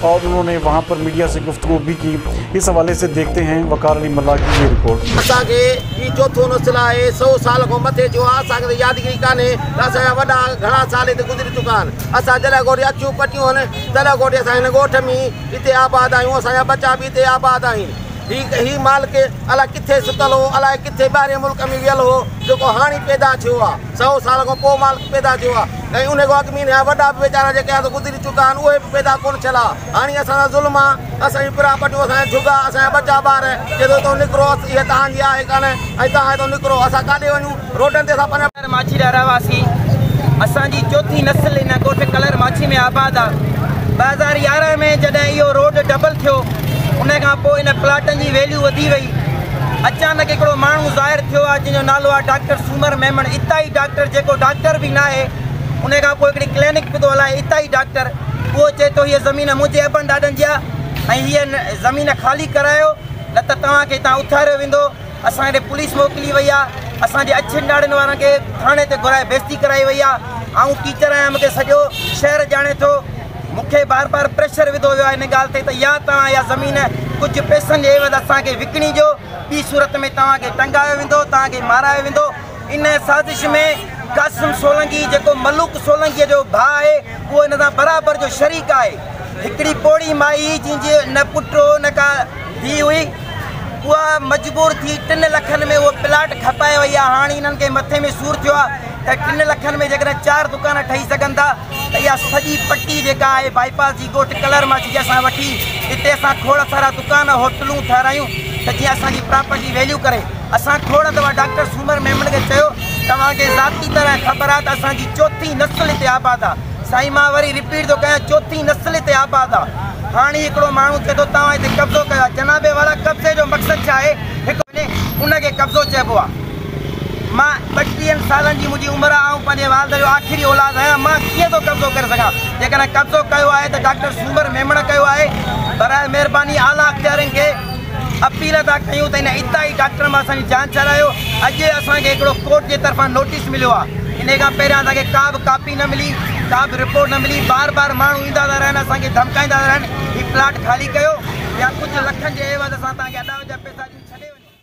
اور انھون ني وھان پر ميڊيا سي گفتگو بي ڪي اس حوالي سي ديکتي ھين وقار علي ملاح ڪي يي رپورٽ. اسان کي ھي چوٿون نسل آھي سئو سال کان مٿي جو آ اسان کي ته يادگيري ڪانھي ته اسان جا وڏا گھڻا سال ھتي گذري چڪا آھن اسان جڏھن کان وٺي اکيون پٽيون ھن تڏھن کان وٺي اسان ھن ڳوٺ مي ھتي آباد آھيون اسان جا ٻچا به ھتي آباد آھن ھي ھي مالڪ الا ڪٿي ستل ھو الاء ڪٿي ٻاھرين ملڪ مي ويل ھو جيڪو ھاڻي پيدا ٿيو آ سئو سال کان پوء مالڪ پيدا ٿيو آ. ۽ انهي کان اڳ مين يا وڏا به ويچارا جيڪي آهن سو گذري چڪا آهن اهي به پيدا ڪونه ٿيل ها هاڻي اسان سان ظلم آ اسان جون پرا پٽيون اسان جا جهڳا اسان جا ٻچا ٻار چئي ٿو هتو نڪرو اس اهي توهان جي آهي ڪانه ۽ توهان هتو نڪرو اسان ڪاڏي وڃون روڊن تي اسان پنهنجا ڪلر ماڇي جا رهواسي اسان جي چوٿين نسل هن ڳوٺ ڪلر ماڇي ۾ آباد آ ٻه هزار يارهن ۾ جڏهن اهو روڊ ڊبل ٿيو ان کان پوء ان پلاٽن جي ويليو وڌي وئي اچانڪ هڪڙو ماڻهو ظاهر ٿيو آ جنهن جو نالو آ ڊاڪٽر سومر ميمڻ اتان ئي ڊاڪٽر جيڪو ڊاڪٽر به ناهي ان کان پوء هڪڙي ڪلينڪ به ٿو هلائي اتان ئي ڊاڪٽر اهو چئي ٿو هيء زمين منهنجي ابن ڏاڏن جي آهي ۽ هيء زمين خالي ڪرايو نه ته توهان کي هتان اٿاريو ويندو اسان ڏي پوليس موڪلي وئي آهي اسان جي اڇين ڏاڙهين وارن کي ٿاڻي تي گهرائي بيزتي ڪرائي وئي آهي آئون ٽيچر آهيان مون کي سڄو شهر ڄاڻي ٿو مون کي بار بار پريشر وڌو ويو آهي ان ڳالهه تي ته يا توهان اها زمين ڪجهه پئسن جي عيوض اسان کي وڪڻي ڏيو ٻي صورت ۾ توهان کي ٽنگايو ويندو، توهان کي مارايو ويندو. ان سازش ۾ قاسم سولنگي جيڪو ملوڪ سولنگيء جو ڀاء آهي، اهو ان سان برابر جو شريڪ آهي. هڪڙي پوڙهي مائي هئي، جنهن جي نه پٽ هو نه ڪا ڌيء هئي. اها مجبور ٿي ٽن لکن ۾ اهو پلاٽ کپائي وئي آهي. هاڻ انهن کي مٿي ۾ سور ٿيو آهي ته ٽن لکن ۾ جيڪڏهن چار دڪان ٺهي سگهن ٿا، ته اها سڄي پٽي جيڪا آهي بائي پاس جي ڳوٺ ڪلر مان جيئن اسان وٺي اتي اسان کوڙ سارا دڪان هوٽلون ٺهرايون ته جيئن اسان جي پراپرٽي ويليو ڪري اسان کوڙ دفعا ڊاڪٽر سومر ميمڻ کي چيو توهان کي ذاتي طرح خبر آهي ته اسان جي چوٿين نسل هتي آباد آهي سائين مان وري رپيٽ ٿو ڪيان چوٿين نسل هتي آباد آهي هاڻي هڪڙو ماڻهو چئي ٿو توهان هتي قبضو ڪيو آهي جناب والا قبضي جو مقصد ڇا آهي هڪ ان کي قبضو چئبو آهي. مان ٻٽيهن سالن جي منهنجي عمر آهي، آئون پنهنجي والد جو آخري اولاد آهيان، مان ڪيئن ٿو قبضو ڪري سگهان؟ جيڪڏهن قبضو ڪيو آهي ته ڊاڪٽر سومر ميمڻ ڪيو آهي، برائي مهرباني اعليٰ اختيارين کي اپيل ٿا ڪيون ته هن ابتدائي ڊاڪٽر مان اسان جي جان ڇڏايو، اڄ ئي اسان کي هڪڙو ڪورٽ جي طرفان نوٽيس مليو آهي، انهي کان پهريان اسان کي ڪا به ڪاپي نه ملي، ڪا به رپورٽ نه ملي، بار بار ماڻهو ايندا ٿا رهن، اسان کي ڌمڪائيندا ٿا رهن، هي پلاٽ خالي ڪيو يا ڪجهه لکن جي عيوض اسان توهان کي اڏاوت جا پئسا ڏيون، ڇڏي وڃو.